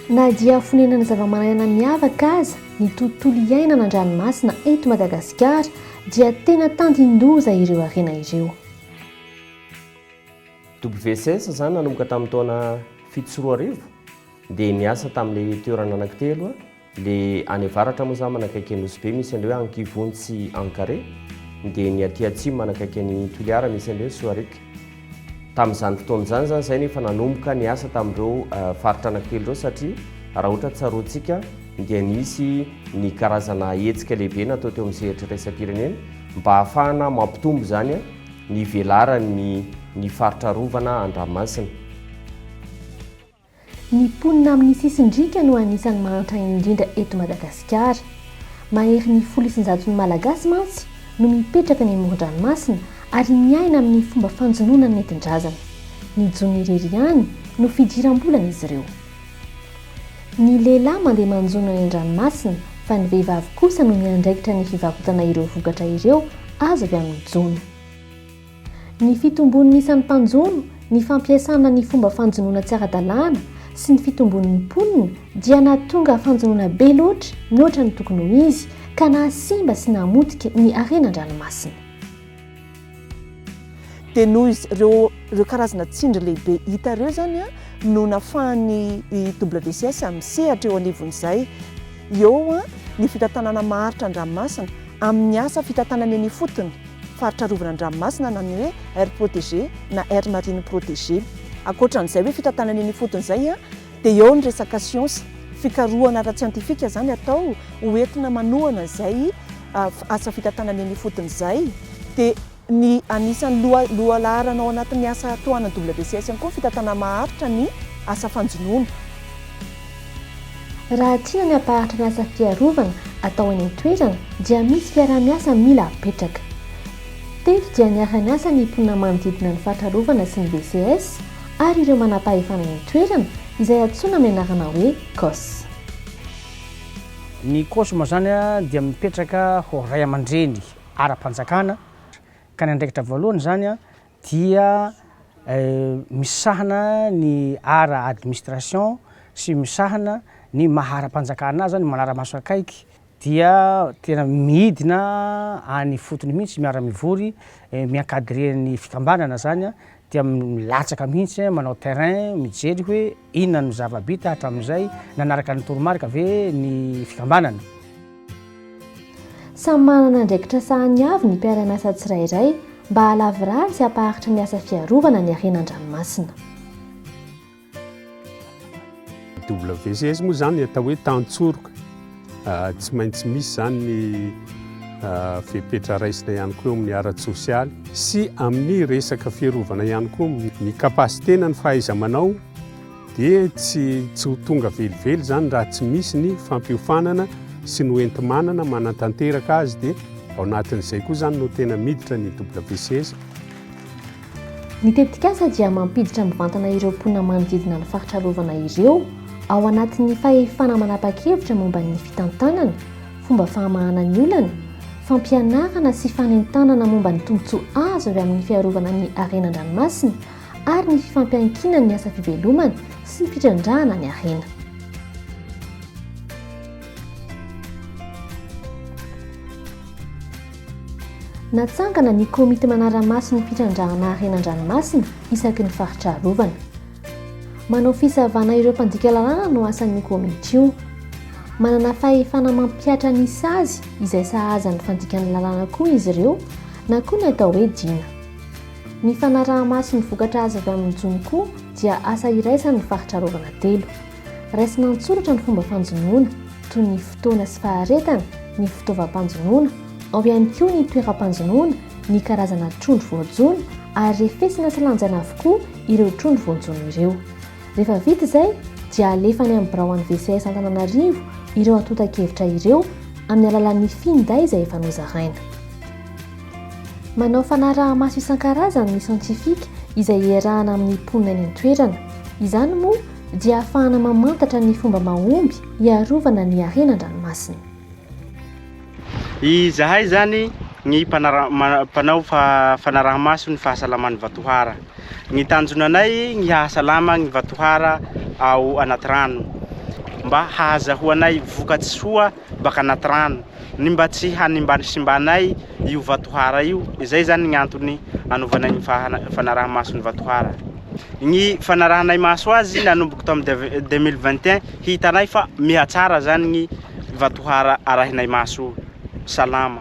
Na dia fonenana zava-manan'aina miavaka aza ny tontolo iainana an-dranomasina eto Madagasikara dia tena tandindoza ireo harena ireo. WCS izany nanomboka tamin'ny taona fito sy roa arivo dia niasa tamin'ilay toerana anankitelo Le any avaratra moa zany manakaiky an'i Nosy be misy an'le hoe Ankivony sy Ankare, dia ny aty atsimo manakaiky an'i Toliara misy an'le hoe Soaric. Tamin'izany fotoana izany zany zay no efa nanomboka niasa tamin'ireo faritra anankitelo ireo satria raha ohatra tsaroantsika dia nisy ny karazana hetsika lehibe natao teo amin'ny sehatry iraisam-pirenena mba hahafahana mampitombo izany ny velaran'ny ny faritra arovana an-dranomasina. Ny mponina amin'ny sisin-driaka no anisan'ny mahantra indrindra eto Madagasikara. Maherin'ny folo isan-jaton'ny Malagasy mantsy no mipetraka any amoron-dranomasina ary miaina amin'ny fomba fanjonoana nentin-drazana. Mijono irery ihany no fidiram-bolan'izy ireo. Ny lehilahy mandeha manjono any an-dranomasina fa ny vehivavy kosa no miandraikitra ny fivarotana ireo vokatra ireo azo avy amin'ny jono. Ny fitombon'ny isan'ny mpanjono, ny fampiasana ny fomba fanjonoana tsy ara-dalàna sy ny fitombon'ny mponina dia nahatonga fanjonoana be loatra mihoatra ny tokony ho izy ka nahasimba sy nahamotika ny harena an-dranomasina. Dia noho ireo ireo karazana tsindry lehibe hita ireo izany no nahafahan'ny WCS misehatra eo anivon'izay eo ny fitantanana maharitra an-dranomasina. amin'ny asa fitantanana eny ifotony, faritra arovana an-dranomasina na ny hoe aire protégée na aire marine protégée. Ankoatra an'izay hoe fitantanana eny ifotony izay dia eo ny resaka siansa, fikarohana ara-tsiantifika izany atao ho entina manohana izay asa fitantanana eny ifotony izay dia. Ny anisan'ny loha lohalaharana ao anatin'ny asa tohanan'ny WCS ihany koa ny fitantanana maharitra ny asa fanjonoana. Raha tiana ny hampaharitra ny asa fiarovana atao eny an-toerana dia misy fiaraha-miasa mila apetraka. Teto dia niara-niasa ny mponina manodidina ny faritra arovana sy ny WCS ary ireo manampahefana eny an-toerana izay antsoina amin'ny anarana hoe COSS. Ny COSM izany dia mipetraka ho raiamandreny ara-panjakana, ka ny andraikitra voalohany izany dia misahana ny ara administration sy misahana ny maha ara-panjakana azy, ny manara-maso akaiky dia tena midina any ifotony mihitsy, miara-mivory, mi-encadrer ny fikambanana izany dia milatsaka mihitsy manao terrain mijery hoe inona no zava-bita hatramin'izay, nanaraka ny toromarika ve ny fikambanana. Samy manana andraikitra sahan'ny avy ny mpiara-miasa tsirairay mba halavirary sy hampaharitra ny asa fiarovana ny harena an-dranomasina. WCS moa izany atao hoe tantsoroka, ah, tsy maintsy misy izany ny ah, fepetra raisina ihany koa eo amin'ny ara-tsosialy sy amin'ny resaka fiarovana ihany koa ny kapasitena ny fahaiza-manao dia tsy tsy ho tonga velively izany raha tsy misy ny fampiofanana sy ny hoenti-manana manantanteraka azy dia ao anatin'izay koa izany no tena miditra ny WCS. Ny tetikasa dia mampiditra mivantana ireo mponina manodidina ny faritra arovana ireo ao anatin'ny fahefana manapa-kevitra momba ny fitantanana, fomba fahamahana ny olana, fampianarana sy fanentanana momba ny tombontsoa azo avy amin'ny fiarovana ny harena an-dranomasina ary ny fifampiankinan'ny asa fivelomana sy ny fitrandrahana ny harena. Natsangana ny komity manara-maso ny fitrandrahana harena an-dranomasina isaky ny faritra arovana. Manao fisavana ireo mpandika lalàna no asan'io komity io. Manana fahefana mampihatra ny sazy izay sahaza ny fandikana lalàna koa izy ireo na koa ny atao hoe Dina. Ny fanaraha-maso ny vokatra azo avy amin'ny jono koa dia asa iraisan'ny faritra arovana telo. Raisina an-tsoratra ny fomba fanjonoana, toy ny fotoana sy faharetana, ny fitaovam-panjonoana, ao ihany koa ny toeram-panjonoana, ny karazana trondro voajono ary refesina sy lanjaina avokoa ireo trondro voajono ireo. Rehefa vita izay dia alefa any amin'ny birao an'ny VCS Antananarivo ireo antontan-kevitra ireo amin'ny alalan'ny finday izay efa nozaraina. Manao fanaraha-maso isan-karazany ny siantifika izay iarahana amin'ny mponina eny an-toerana. Izany moa dia ahafahana mamantatra ny fomba mahomby hiarovana ny harena an-dranomasina. Izahay izany ny mpanao fanaraha-maso ny fahasalaman'ny vatohara. Ny tanjonanay ny hahasalama ny vatohara ao anaty rano mba hahazahoanay vokatsoa baka anaty rano ny mba tsy hanimbanisimbanay io vatohara io izay zany ny antony anovanay ny fanarahamaso ny vatohara ny fanarahanay maso azy nanomboky tam 2021 hitanay fa mihatsara zany ny vatohara arahinay maso salama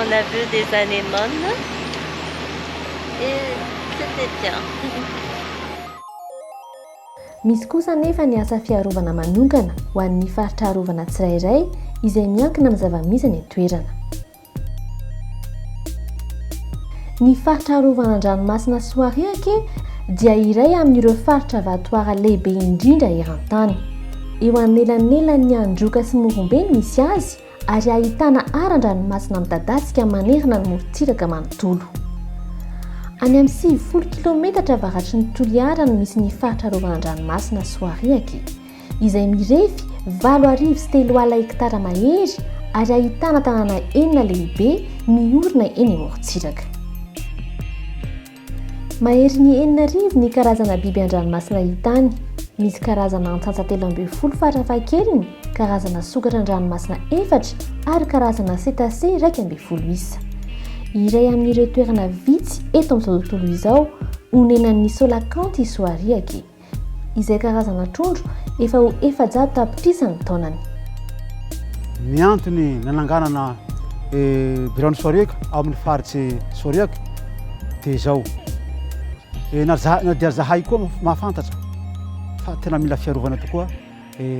On a vu des anémones et c'etait bien. Misy kosa anefa ny asa fiarovana manokana ho an'ny faritra arovana tsirairay izay miankina amin'ny zava-misy any an-toerana. Ny faritra arovana an-dranomasina Soariake dia iray amin'ireo faritra vatohara lehibe indrindra eran-tany. Eo anelanelan'ny Androka sy Morombe no misy azy, ary ahitana aran-dranomasina midadasika manerana ny morontsiraka manontolo. Any amin'ny sivifolo kilometatra avaratry ny Toliara no misy ny faritra arovana an-dranomasina Soariaky, izay mirefy valo arivo sy telo alina hektara mahery ary ahitana tanàna enina lehibe miorina eny amorontsiraka. Maherin'ny enina arivo ny karazana biby an-dranomasina hita any. Misy karazana antsantsa telo ambin'ny folo farafahakeliny, karazana sokatra an-dranomasina efatra ary karazana cétacés iraika ambin'ny folo isa. Iray amin'ireo toerana vitsy eto amin'izao tontolo izao onenan'ny Solakanth i Soariake. izay karazana trondro efa ho efajato tapitrisa ny taonany. Ny antony nananganana biraon'ny Soriac ao amin'ny faritsy Soriac dia izao, na na dia zahay koa mahafantatra fa tena mila fiarovana tokoa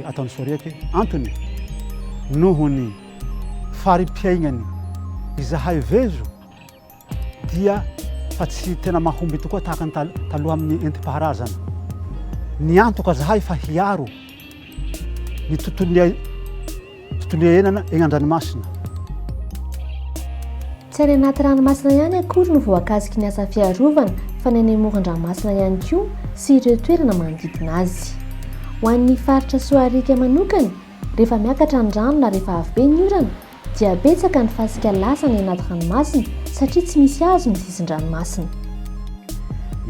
ataon'ny Soriac. Antony noho ny fari-piaignany izahay vezo. dia fa tsy tena mahomby tokoa tahaka ny taloha amin'ny entim-paharazana. Niantoka zahay fa hiaro ny tontolon'ny tontolo iainana egny an-dranomasina. Tsy any anaty ranomasina ihany akory no voakasiky ny asa fiarovana fa ny any amoron-dranomasina ihany koa sy ireo toerana manodidina azy. Ho an'ny faritra Soarika manokana, rehefa miakatra ny rano na rehefa avy be ny orana, Dia betsaka ny fasika lasa any anaty ranomasina satria tsy misy hazo ny sisin-dranomasina.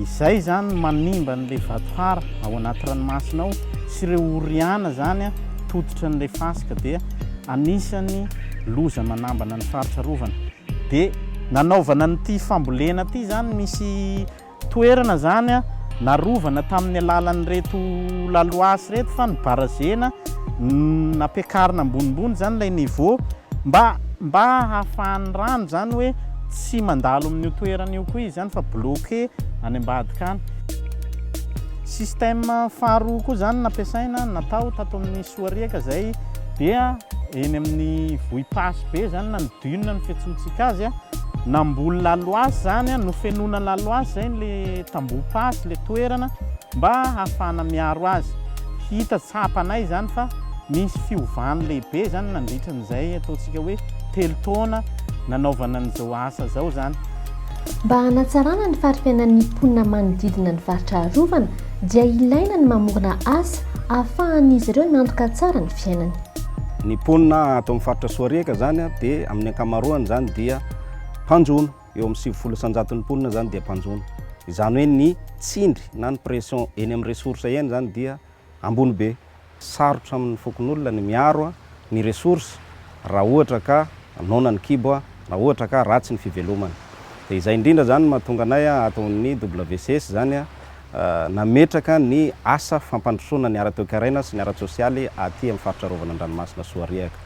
Izay izany no manimba an'ilay vatohara ao anaty ranomasina ao sy ireo oriana izany tototra an'ilay fasika dia anisan'ny loza manambana ny faritra arovana. Dia nanaovana an'ity fambolena ity izany misy Toerana izany narovana tamin'ny alalan'ireto laloasy ireto fa ny barazena nampiakarina ambonimbony izany ilay niveau mba mba hahafahan'ny rano izany hoe tsy mandalo amin'io toerana io koa izy izany fa bloqué any ambadika any. Système faharoa koa izany nampiasaina natao tato amin'ny Soariaka izay dia eny amin'ny vohipasy be izany na ny dune ny fiantsoantsika azy. Namboly laloasy zany nofenoina laloasy zay le tamboho pasy le toerana mba hahafahana miaro azy hita tsapanay zany fa misy fiovany lehibe zany nandritra an'izay ataontsika hoe telo taona nanaovana an'izao asa zao zany. Mba hanatsarana ny fari-piainan'ny mponina manodidina ny faritra arovana dia ilaina ny mamorona asa ahafahan'izy ireo miantoka tsara ny fiainany. Ny mponina ato amin'ny faritra Soariaka izany dia amin'ny ankamaroany izany dia mpanjono. Eo amin'ny sivifolo isanjaton'ny mponina izany dia mpanjono. Izany hoe ny tsindry na ny pression eny amin'ny ressources eny izany dia ambony be. Sarotra amin'ny fokonolona ny miaro ny ressources raha ohatra ka noana ny kibo na ohatra ka ratsy ny fivelomana. Dia izay indrindra izany no mahatonga anay ato amin'ny WCS izany. nametraka ny asa fampandrosoana ny ara-toekaraina sy ny ara-tsosialy aty amin'ny faritra arovana an-dranomasina Soariaka.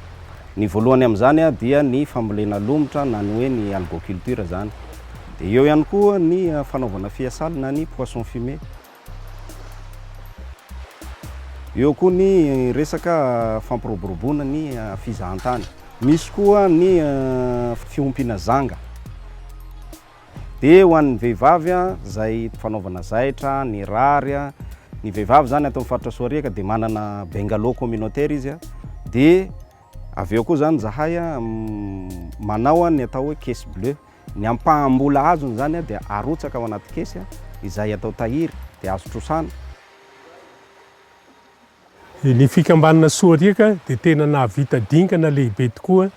Ny voalohany amin'izany dia ny fambolena lomotra na ny hoe ny algoculture izany. Dia eo ihany koa ny fanaovana fiasaly na ny poisson fumé. Eo koa ny resaka fampiroboroboana ny fizahantany. Misy koa ny fiompiana zanga. Dia ho an'ny vehivavy izay fanaovana zaitra, ny rary, ny vehivavy izany ato amin'ny faritra Soariaka dia manana bungalow communautaire izy, dia avy eo koa izany izahay manao ny atao hoe caisse bleue, ny ampaham-bola azony izany dia arotsaka ao anaty kesy izay atao tahiry dia azo trosana. Ny fikambanana Soariaka dia tena nahavita dingana lehibe tokoa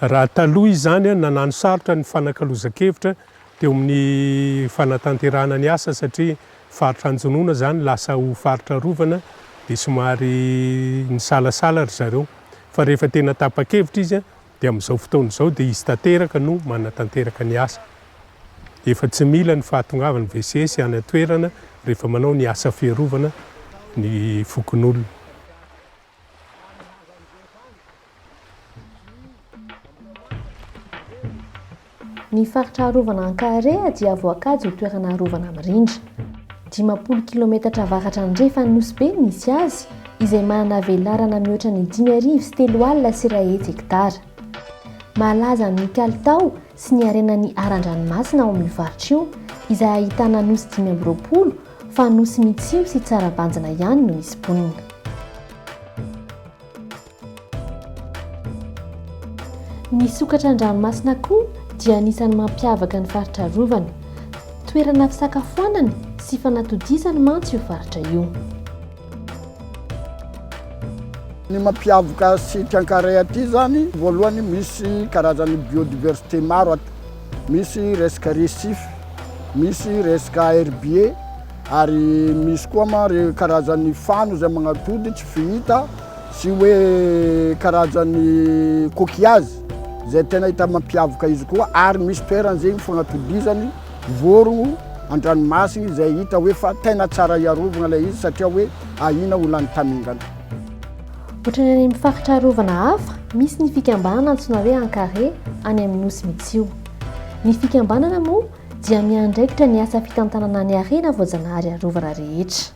raha taloha izany nanano sarotra ny fanakalozan-kevitra teo amin'ny fanatanterahana ny asa satria faritra Anjonona izany lasa ho faritra arovana dia somary nisalasala ry zareo fa rehefa tena tapa-kevitra izy dia amin'izao fotoana izao dia izy tanteraka no manatanteraka ny asa. Efa tsy mila ny fahatongavan'ny VCS any an-toerana rehefa manao ny asa fiarovana ny fokonolona. Ny faritra arovana Ankaharea dia voakajy ho toerana arovana mirindra. Dimampolo kilometatra avaratra andrefan'i Nosy Be no misy azy, izay manana velarana mihoatra ny dimy arivo sy telo alina sy iray hetsy hektara. Malaza amin'ny kalitao sy ny harenan'ny haran-dranomasina ao amin'io faritra io, izay ahitana nosy dimy amby roapolo, fa nosy mitsimo sy tsara banjina ihany no misy mponina. Ny sokatra an-dranomasina koa dia anisan'ny mampiavaka ny faritra arovana. Toerana fisakafoanana sy fanatodizana mantsy io faritra io. Ny mampiavaka sic Ankaraia aty izany, voalohany misy karazan'ny biodiversité maro aty. Misy resaka récif, misy resaka herbier, ary misy koa ma re karazan'ny fano izay magnatody tsy fihita. Tsy hoe karazan'ny coquillage izay tena hita mampiavaka izy koa ary misy toerana izay fanatodizany vorogno an-dranomasina izay hita hoe fa tena tsara hiarovana ilay izy satria hoe ahiana ho lany tamingana. Ohatrany any amin'ny faritra arovana hafa, misy ny fikambanana antsoina hoe Ankare any amin'ny Nosy Mitsio. Ny fikambanana moa dia miandraikitra ny asa fitantanana ny harena voajanahary arovana rehetra.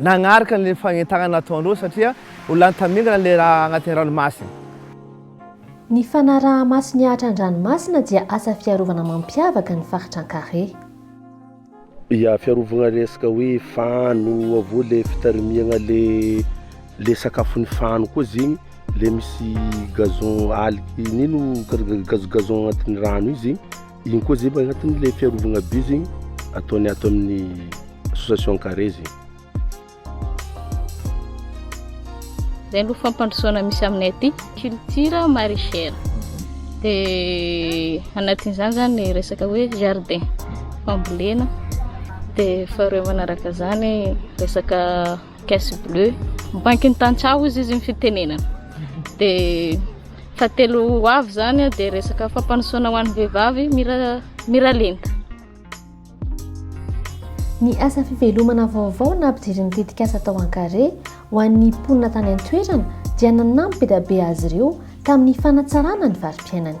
nagnaraka an'ilay fagnentanana nataon'ireo satria ho lany tamingana ilay raha agnatin'ny ranomasina. Ny fanaraha-maso ny ahitra an-dranomasina dia asa fiarovana mampiavaka ny faritra Ankare. Ya, fiarovagna resaka hoe fano, aveo le fitarimiagna le le sakafon'ny fano koa zegny, le misy gazon algue nino, gazon gazon agnatin'ny rano io zegny. Igny koa zay agnatin'ny le fiarovagna by zegny ataony ato amin'ny association carré zegny. Zay aloha fampandrosoana misy aminay aty culture maraîchère. De anatin'izany zany ny resaka hoe jardin fambolena de faharoe manaraka zany resaka Caisse Bleue, bankin'ny tantsaha hozy izy ny fitenenana. Dia fahatelo ho avy izany dia resaka fampanosoana ho an'ny vehivavy mira miralenta. Ny asa fivelomana vaovao nampijery ny tetikasa tao Ankare ho an'ny mponina tany an-toerana dia nanampy be dia be azy ireo tamin'ny fanatsarana ny varim-piainany.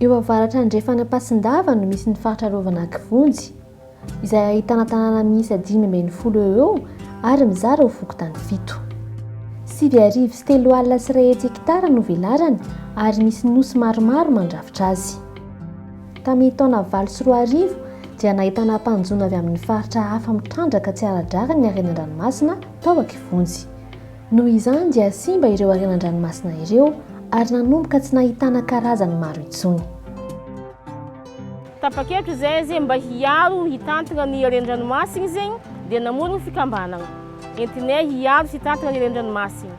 Eo avaratra andrefan'Ampasindava no misy ny faritra arovana Kivonjy, izay ahitana tanàna miisa dimy ambin'ny folo eo ho eo ary mizara ho fokontany fito. Sivy arivo sy telo alina sy iray hetsy hekitara no velarany ary misy nosy maromaro mandrafitra azy. Tamin'ny taona valo sy roa arivo dia nahitana mpanjono avy amin'ny faritra hafa mitrandraka tsy ara-drariny ny harena an-dranomasina tao Ankivonjy. Noho izany dia simba ireo harenan-dranomasina ireo ary nanomboka tsy nahitana karazany maro intsony. Tapa-kevitra izay zay mba hiaro hitantana ny haren-dranomasina izay dia namory ny fikambanana entinay hiaro sy hitantana ny haren-dranomasina.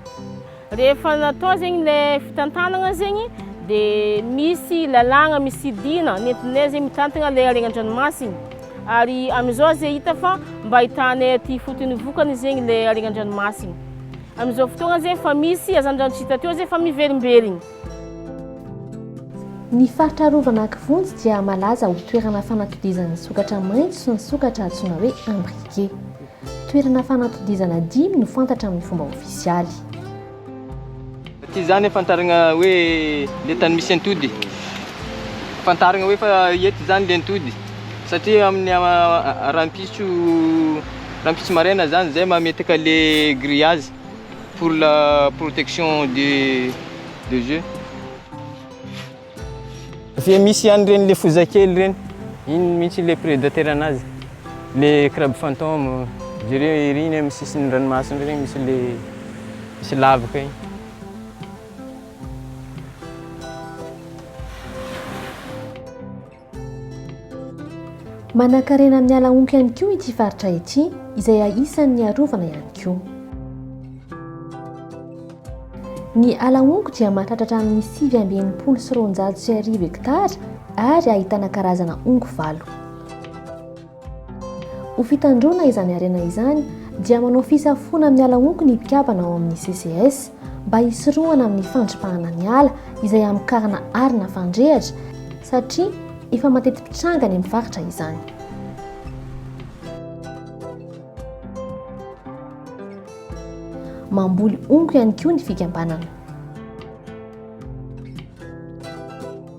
Rehefa natao izay ilay fitantanana izay dia misy lalàna, misy dina nentinay izay mitantana ilay harenan-dranomasina. Ary amin'izao aza hita fa mba ahitana ety ifotony vokany zegny ilay harenan-dranomasiny. Amin'izao fotoagna zegny efa misy hazandrano tsy hita teo zegny fa miverimberigny. Ny faritra arovana Kivonjy dia malaza ho toerana fanatodizan'ny sokatra maitso sy ny sokatra antsoina hoe imbriqué. Toerana fanatodizana dimy no fantatra amin'ny fomba ofisialy. Tsy izany ahafantaragna hoe le tany misy antody. Fantaragna hoe fa eto izany le antody. Satria amin'ny rahampitso rahampitso maraina izany zay mametaka le grillage pour la protection des des oeufs. Dia misy ihany ireny le foza kely ireny. Iny mihitsy le prédateur anazy. Le crabe fantôme. Jereo ery iny amin'ny sisin'ny ranomasina ireny misy le misy lavaka iny. Manankarena amin'ny ala omby ihany koa ity faritra ity izay isan'ny arovana ihany koa. Ny ala honko dia mahatratra hatramin'ny sivy amby enimpolo sy roanjato sy arivo hektara ary ahitana karazana honko valo. Ho fitandroana izany harena izany dia manao fisafoana amin'ny ala honko ny mpikabana ao amin'ny CCS mba hisorohana amin'ny fandripahana ny ala izay hamokarana arina fandrehatra satria efa mateti-pitranga any amin'ny faritra izany. Mamboly honko ihany koa ny fikambanana.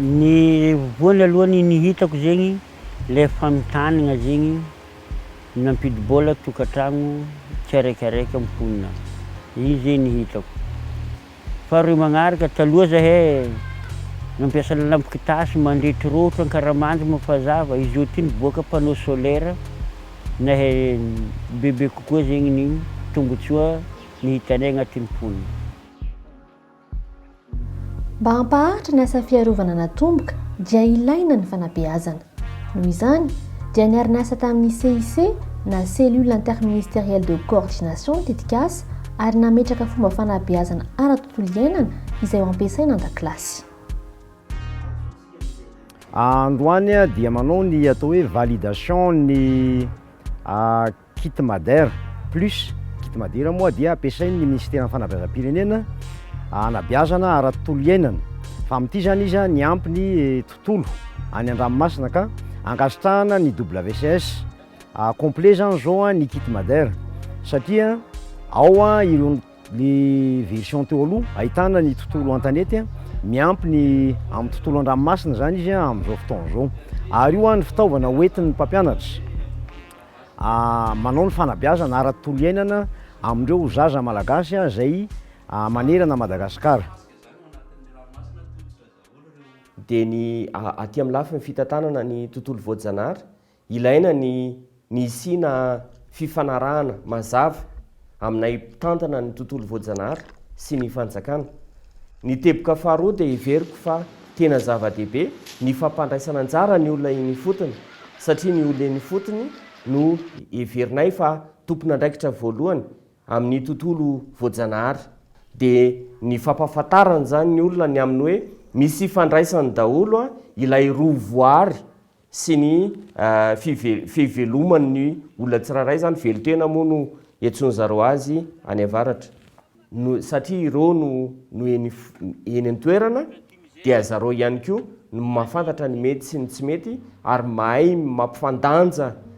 Ny voany aloha ny ny hitako zegny le fanontaniana zegny nampidi-bola tokantragno tsiaraikaraiky am mponina iny zay ny hitako faharoy magnaraka taloha zahay nampiasa lalamby kitasy mandrehitry roatra ankaramandy moa fa zava izao ty nivoaka panneau solaire nahe bebe kokoa zegny ny tombotsoa ny hitanay agnatin'ny mponina Mba hampaharitra ny asa fiarovana natomboka dia ilaina ny fanabeazana. Noho izany, dia niara-niasa tamin'ny CIC na Cellule Interministérielle de Coordination ny tetikasa ary nametraka fomba fanabeazana ara-tontolo iainana izay ho ampiasaina an-dakilasy. Androany dia manao ny atao hoe validation ny Kit Madr Plus, Kit Madira moa dia ampiasain'ny Minisiteran'ny Fanabeazam-pirenena hanabeazana ara-tontolo iainana fa amin'ity izany izy niampy ny tontolo any an-dranomasina ka ankasitrahana ny WCS complet izany izao ny Kit Madr satria ao ireo ny version teo aloha ahitana ny tontolo an-tanety miampy ny amin'ny tontolo an-dranomasina izany izy amin'izao fotoana izao ary io ny fitaovana hoentin'ny mpampianatra manao ny fanabeazana ara-tontolo iainana amin'ireo zaza malagasy izay manerana an'i Madagasikara. Dia ny aty amin'ny lafiny fitantanana ny tontolo voajanahary, ilaina ny ny hisiana fifanarahana mazava. aminay mpitantana ny tontolo voajanahary sy ny fanjakana. Ny teboka faharoa dia heveriko fa tena zava-dehibe ny fampandraisana anjara ny olona eny ifotony satria ny olona eny ifotony no heverinay fa tompon'andraikitra voalohany amin'ny tontolo voajanahary. Dia ny fampahafantarana izany ny olona ny amin'ny hoe misy ifandraisany daholo ilay roa voaary sy ny fiveloman' ny olona tsirairay izany, velon-tena moa no iantsoan-dry zareo azy any avaratra, satria ireo no no eny eny an-toerana dia zareo ihany koa no mahafantatra ny mety sy ny tsy mety ary mahay mampifandanja